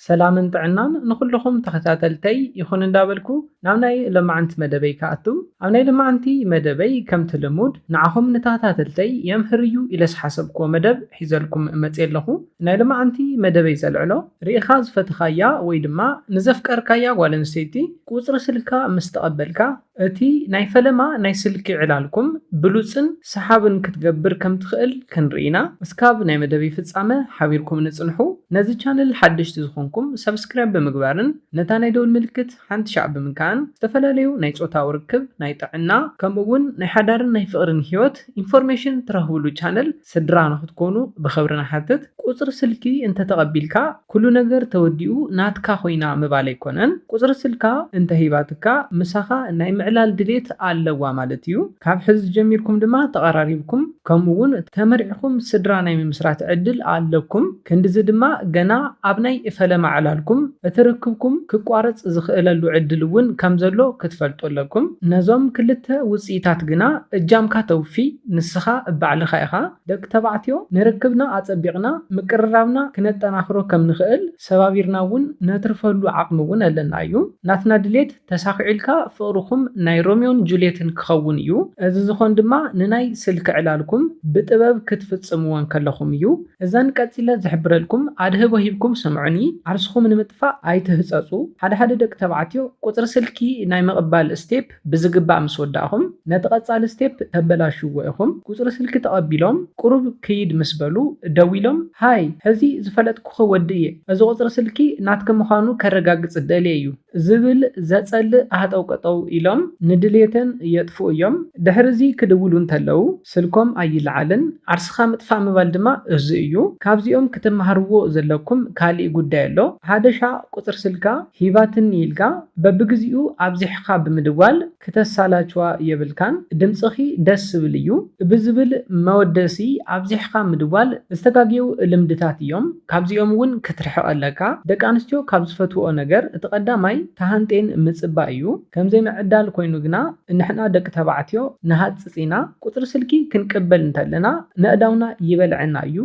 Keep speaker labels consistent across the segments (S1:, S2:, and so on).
S1: ሰላምን ጥዕናን ንኹሉኹም ተኸታተልተይ ይኹን እንዳበልኩ ናብ ናይ ሎማዕንቲ መደበይ ክኣቱ። ኣብ ናይ ሎማዕንቲ መደበይ ከምቲ ልሙድ ንዓኹም ንተኸታተልተይ የምህር እዩ ኢለ ዝሓሰብኩዎ መደብ ሒዘልኩም መጽየ ኣለኹ። ናይ ሎማዕንቲ መደበይ ዘልዕሎ። ሪኢኻ ዝፈተኻያ ወይ ድማ ንዘፍቀርካያ ጓል ኣንስተይቲ ቁጽሪ ስልካ ምስ ተቐበልካ፣ እቲ ናይ ፈለማ ናይ ስልኪ ዕላልኩም ብሉጽን ሰሓብን ክትገብር ከም ትኽእል ክንርኢ ኢና። እስካብ ናይ መደብይ ፍጻመ ሓቢርኩምኒ ጽንሑ። ነዚ ቻነል ሓደሽቲ ዝኾንኩም ሳብስክራይብ ብምግባርን ነታ ናይ ደውል ምልክት ሓንቲ ሻዕ ብምንካእን ዝተፈላለዩ ናይ ጾታዊ ርክብ፣ ናይ ጥዕና ከምኡ ውን ናይ ሓዳርን ናይ ፍቕርን ሂወት ኢንፎርሜሽን ትረኽብሉ ቻነል ስድራ ንክትኮኑ ብክብሪ ንሓትት። ቁጽሪ ስልኪ እንተ ተቀቢልካ ኩሉ ነገር ተወዲኡ ናትካ ኮይና ምባል ኣይኮነን ቁጽሪ ስልካ እንተ ሂባትካ ምሳካ ናይ ምዕላል ድሌት ኣለዋ ማለት እዩ ካብ ሕዚ ጀሚርኩም ድማ ተቀራሪብኩም ከምኡ ውን ተመርዕኩም ስድራ ናይ ምምስራት ዕድል ኣለኩም ክንድዚ ድማ ገና ኣብ ናይ ፈለማ ዕላልኩም እቲ ርክብኩም ክቋረጽ ዝኽእለሉ ዕድል እውን ከም ዘሎ ክትፈልጡ ኣለኩም። ነዞም ክልተ ውጽኢታት ግና እጃምካ ተውፊ ንስኻ ባዕልኻ ኢኻ። ደቂ ተባዕትዮ ንርክብና ኣጸቢቕና ምቅርራብና ክነጠናኽሮ ከም ንኽእል ሰባቢርና እውን ነትርፈሉ ዓቕሚ እውን ኣለና እዩ። ናትና ድሌት ተሳኺዑልካ ፍቕርኹም ናይ ሮሚዮን ጁልየትን ክኸውን እዩ። እዚ ዝኾን ድማ ንናይ ስልኪ ዕላልኩም ብጥበብ ክትፍጽምዎ እንከለኹም እዩ። እዘን ቀጺለ ዝሕብረልኩም ኣድህቦ ሂብኩም ስምዑኒ፣ ዓርስኹም ንምጥፋእ ኣይትህጸጹ። ሓደ ሓደ ደቂ ተባዕትዮ ቁጽሪ ስልኪ ናይ ምቕባል ስቴፕ ብዝግባእ ምስ ወዳእኹም፣ ነቲ ቀጻሊ ስቴፕ ተበላሽዎ ኢኹም። ቁጽሪ ስልኪ ተቐቢሎም ቁሩብ ክይድ ምስ በሉ ደዊሎም ሃይ ሕዚ ዝፈለጥኩኺ ወዲ እየ፣ እዚ ቁጽሪ ስልኪ ናትኪ ምዃኑ ከረጋግጽ ደልየ እዩ። ዝብል ዘጸልእ ሃጠውቀጠው ኢሎም ንድሌተን የጥፍኡ እዮም። ድሕሪ'ዚ ክድውሉ እንተለዉ ስልኮም ኣይለዓልን። ዓርስኻ ምጥፋእ ምባል ድማ እዙይ እዩ። ካብዚኦም ክትመሃርዎ ዘለኩም ካሊእ ጉዳይ ኣሎ። ሃደሻ ቁጽሪ ስልካ ሂባትኒ ኢልካ በብግዚኡ ኣብዚሕኻ ብምድዋል፣ ክተሳላችዋ የብልካን ድምጽኺ ደስ ዝብል እዩ ብዝብል መወደሲ ኣብዚሕኻ ምድዋል ዝተጋግየው ልምድታት እዮም ካብዚኦም እውን ክትርሕቅ ኣለካ ደቂ ኣንስትዮ ካብ ዝፈትውኦ ነገር እቲ ቀዳማይ ተሃንጥየን ምጽባይ እዩ ከምዘይ ምዕዳል ኮይኑ ግና ንሕና ደቂ ተባዕትዮ ንሃጽጽ ኢና ቁጽሪ ስልኪ ክንቅበል እንተለና ነእዳውና ይበልዐና እዩ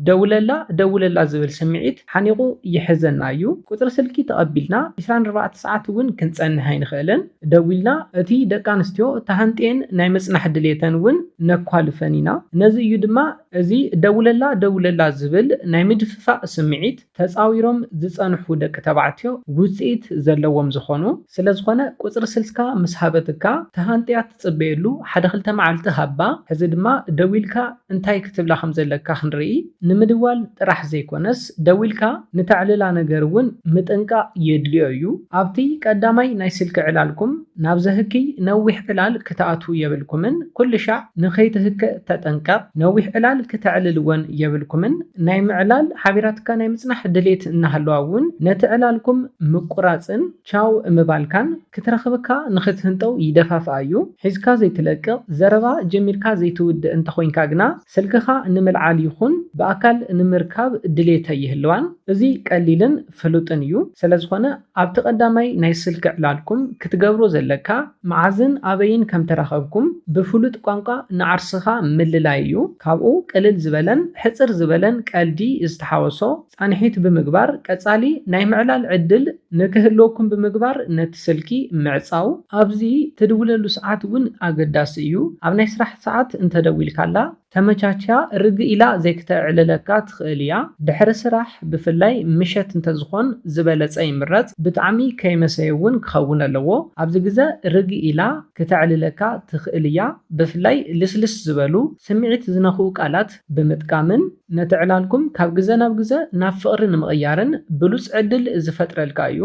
S1: ደውለላ ደውለላ ዝብል ስምዒት ሓኒቁ ይሕዘና እዩ ቁጽሪ ስልኪ ተቀቢልና ዕስራን ኣርባዕተ ሰዓት እውን ክንጸንሕ ኣይንክእልን ደዊልና እቲ ደቂ ኣንስትዮ ተሃንጥየን ናይ ምጽናሕ ድሌተን እውን ነኳልፈን ኢና። ነዚ እዩ ድማ እዚ ደውለላ ደውለላ ዝብል ናይ ምድፍፋእ ስምዒት ተጻዊሮም ዝጸንሑ ደቂ ተባዕትዮ ውጽኢት ዘለዎም ዝኾኑ። ስለዝኾነ ቁጽሪ ስልካ ምስ ሃበትካ ተሃንጥያ ትጽበየሉ ሓደ ክልተ መዓልቲ ሃባ ሕዚ ድማ ደዊልካ እንታይ ክትብላ ከም ዘለካ ክንርኢ ንምድዋል ጥራሕ ዘይኮነስ ደዊልካ ንተዕልላ ነገር እውን ምጥንቃቕ የድልዮ እዩ። ኣብቲ ቀዳማይ ናይ ስልኪ ዕላልኩም ናብ ዘህክይ ነዊሕ ዕላል ክትኣትዉ የብልኩምን ኩልሻዕ ንከይትህከእ ተጠንቀቕ ነዊሕ ዕላል ክተዕልል እውን የብልኩምን ናይ ምዕላል ሓቢራትካ ናይ ምጽናሕ ድሌት እናሃለዋ እውን ነቲ ዕላልኩም ምቁራጽን ቻው ምባልካን ክትረኽብካ ንኽትህንጠው ይደፋፍኣ እዩ። ሒዝካ ዘይትለቅቕ፣ ዘረባ ጀሚርካ ዘይትውድእ እንተኾይንካ ግና ስልክኻ ንምልዓል ይኹን ብኣካል ንምርካብ ድሌት ኣይህልዋን። እዚ ቀሊልን ፍሉጥን እዩ። ስለዝኾነ ኣብቲ ቀዳማይ ናይ ስልኪ ዕላልኩም ክትገብሮ ዘለካ መዓዝን ኣበይን ከምተራኸብኩም ብፍሉጥ ቋንቋ ንዓርስኻ ምልላይ እዩ። ካብኡ ቅልል ዝበለን ሕጽር ዝበለን ቀልዲ ዝተሓወሶ ፃንሒት ብምግባር ቀፃሊ ናይ ምዕላል ዕድል ንክህልወኩም ብምግባር ነቲ ስልኪ ምዕፃው። ኣብዚ ትድውለሉ ሰዓት እውን ኣገዳሲ እዩ። ኣብ ናይ ስራሕ ሰዓት እንተደዊልካላ ተመቻችያ ርግእ ኢላ ዘይክተዕልለካ ትኽእል እያ። ድሕሪ ስራሕ ብፍላይ ምሸት እንተዝኾን ዝበለፀ ይምረፅ። ብጣዕሚ ከይመሰየ እውን ክኸውን ኣለዎ። ኣብዚ ግዘ ርግእ ኢላ ክተዕልለካ ትኽእል እያ። ብፍላይ ልስልስ ዝበሉ ስምዒት ዝነኽኡ ቃላት ብምጥቃምን። ነቲ ዕላልኩም ካብ ግዘ ናብ ግዘ ናብ ፍቕሪ ንምቕያርን ብሉፅ ዕድል ዝፈጥረልካ እዩ።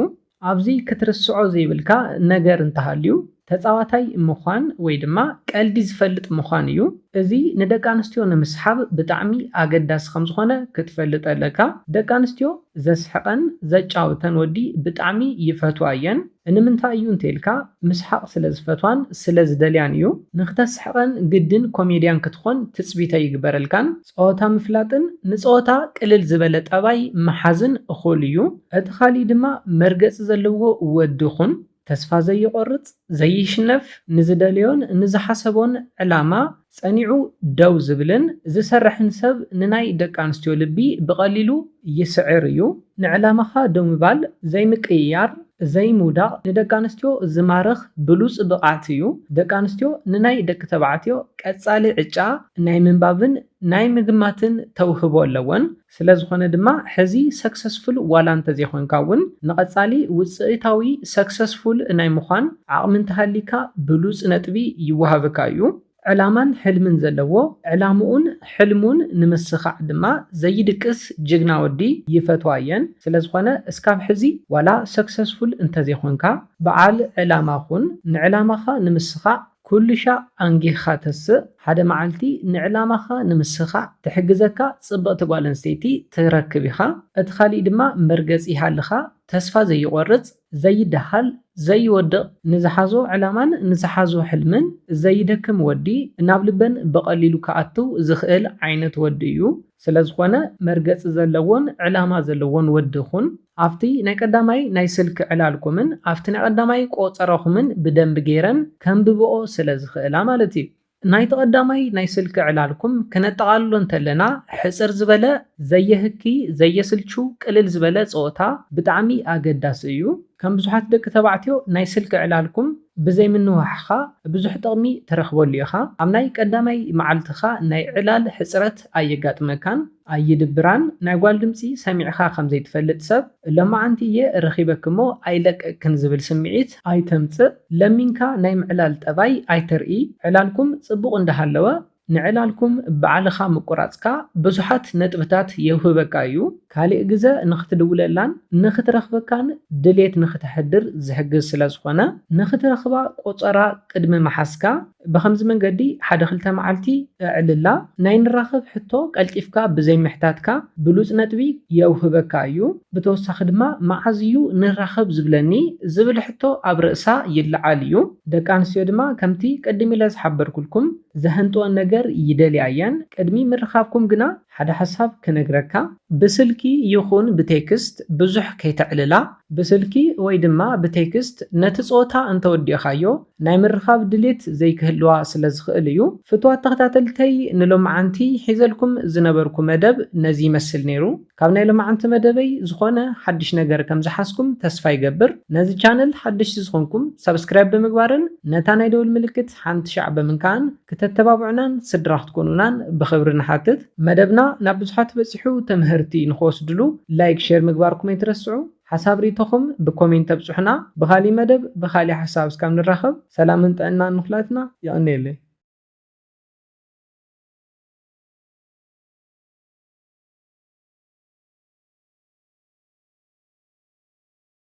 S1: ኣብዚ ክትርስዖ ዘይብልካ ነገር እንተሃልዩ ተፃዋታይ ምዃን ወይ ድማ ቀልዲ ዝፈልጥ ምዃን እዩ። እዚ ንደቂ ኣንስትዮ ንምስሓብ ብጣዕሚ ኣገዳሲ ከምዝኾነ ክትፈልጥ ኣለካ። ደቂ ኣንስትዮ ዘስሕቐን ዘጫውተን ወዲ ብጣዕሚ ይፈትዋ እየን። እንምንታይ እዩ እንተይልካ ምስሓቕ ስለ ዝፈትዋን ስለ ዝደልያን እዩ። ንክተስሕቐን ግድን ኮሜድያን ክትኾን ትጽቢት ኣይግበረልካን። ጸወታ ምፍላጥን ንጸወታ ቅልል ዝበለ ጠባይ ምሓዝን እኹል እዩ። እቲ ካልእ ድማ መርገጺ ዘለዎ ወዲ ኩን። ተስፋ ዘይቖርጽ፣ ዘይሽነፍ፣ ንዝደለዮን ንዝሓሰቦን ዕላማ ጸኒዑ ደው ዝብልን ዝሰርሕን ሰብ ንናይ ደቂ ኣንስትዮ ልቢ ብቐሊሉ ይስዕር እዩ። ንዕላማኻ ደው ምባል፣ ዘይምቅይያር፣ ዘይምውዳቕ ንደቂ ኣንስትዮ ዝማርኽ ብሉጽ ብቕዓት እዩ። ደቂ ኣንስትዮ ንናይ ደቂ ተባዕትዮ ቀጻሊ ዕጫ ናይ ምንባብን ናይ ምግማትን ተውህቦ ኣለወን። ስለዝኾነ ድማ ሕዚ ሰክሰስፉል ዋላ እንተዘይኾንካ እውን ንቐፃሊ ውፅኢታዊ፣ ሰክሰስፉል፣ ናይ ምዃን ዓቕሚ እንተሃልይካ ብሉፅ ነጥቢ ይወሃበካ እዩ። ዕላማን ሕልምን ዘለዎ ዕላምኡን ሕልሙን ንምስኻዕ ድማ ዘይድቅስ ጅግና ወዲ ይፈትዋ እየን። ስለዝኾነ እስካብ ሕዚ ዋላ ሰክሰስፉል እንተዘይኾንካ በዓል ዕላማ ኹን፣ ንዕላማኻ ንምስኻዕ ኩሉሻዕ ኣንጊህኻ ተስእ፣ ሓደ መዓልቲ ንዕላማኻ ንምስኻዕ ትሕግዘካ ጽብቕቲ ጓል ኣንስተይቲ ትረክብ ኢኻ። እቲ ካሊእ ድማ መርገጺ ይሃልኻ፣ ተስፋ ዘይቖርጽ፣ ዘይደሃል፣ ዘይወድቕ፣ ንዝሓዞ ዕላማን ንዝሓዞ ሕልምን ዘይደክም ወዲ፣ ናብ ልበን ብቐሊሉ ክኣትው ዝኽእል ዓይነት ወዲ እዩ። ስለዝኾነ መርገጺ ዘለዎን ዕላማ ዘለዎን ወዲ ኩን። ኣብቲ ናይ ቀዳማይ ናይ ስልኪ ዕላልኩምን ኣብቲ ናይ ቀዳማይ ቆጸራኹምን ብደንቢ ገይረን ከንብብኦ ስለ ዝኽእላ ማለት እዩ። ናይቲ ቀዳማይ ናይ ስልኪ ዕላልኩም ክነጠቓልሎ እንተለና ሕጽር ዝበለ፣ ዘየህኪ፣ ዘየስልቹ፣ ቅልል ዝበለ ጸወታ ብጣዕሚ ኣገዳሲ እዩ። ከም ብዙሓት ደቂ ተባዕትዮ ናይ ስልኪ ዕላልኩም ብዘይ ምንውሓኻ ብዙሕ ጥቕሚ ትረኽበሉ ኢኻ። ኣብ ናይ ቀዳማይ መዓልትኻ ናይ ዕላል ሕጽረት ኣየጋጥመካን። ኣይድብራን ናይ ጓል ድምጺ ሰሚዕኻ ከም ዘይትፈልጥ ሰብ ሎማዓንቲ እየ ረኺበኪ እሞ ኣይለቅቅክን ዝብል ስምዒት ኣይተምጽእ ለሚንካ ናይ ምዕላል ጠባይ ኣይተርኢ ዕላልኩም ጽቡቕ እንዳሃለወ ንዕላልኩም ባዕልኻ ምቁራጽካ ብዙሓት ነጥብታት የውህበካ እዩ ካሊእ ግዘ ንኽትድውለላን ንኽትረኽበካን ድሌት ንኽተሕድር ዝሕግዝ ስለዝኾነ ንኽትረኽባ ቆጸራ ቅድሚ ምሓዝካ ብኸምዚ መንገዲ ሓደ ክልተ መዓልቲ እዕልላ ናይ ንራኸብ ሕቶ ቀልጢፍካ ብዘይ ምሕታትካ ብሉጽ ነጥቢ የውህበካ እዩ። ብተወሳኺ ድማ መዓዝ እዩ ንራኸብ ዝብለኒ ዝብል ሕቶ ኣብ ርእሳ ይለዓል እዩ። ደቂ ኣንስትዮ ድማ ከምቲ ቅድም ኢለ ዝሓበርኩልኩም ዘሀንጥወን ነገር ይደልያ እየን። ቅድሚ ምርኻብኩም ግና ሓደ ሓሳብ ክነግረካ። ብስልኪ ይኹን ብቴክስት ብዙሕ ከይተዕልላ። ብስልኪ ወይ ድማ ብቴክስት ነቲ ጸወታ እንተወዲእኻዮ ናይ ምርኻብ ድሌት ዘይክህልዋ ስለ ዝኽእል እዩ። ፍቱዋት ተኸታተልተይ ንሎምዓንቲ ሒዘልኩም ዝነበርኩ መደብ ነዚ ይመስል ነይሩ። ካብ ናይ ሎምዓንቲ መደበይ ዝኾነ ሓድሽ ነገር ከም ዝሓዝኩም ተስፋ ይገብር። ነዚ ቻነል ሓደሽቲ ዝኾንኩም ሳብስክራይብ ብምግባርን ነታ ናይ ደውል ምልክት ሓንቲ ሻዕ ብምንካእን ክተተባብዑናን ስድራ ክትኮኑናን ብኽብሪ ንሓትት። መደብና ናብ ብዙሓት በጺሑ ተመሀርቲ ንኽወስድሉ ላይክ ሼር ምግባርኩም ኣይትረስዑ። ሓሳብ ሪኢቶኹም ብኮሜንት ኣብፁሑና ብኻሊእ መደብ ብኻሊእ ሓሳብ እስካብ ንራኸብ ሰላምን ጥዕናን ንኹላትና የቐንየለይ።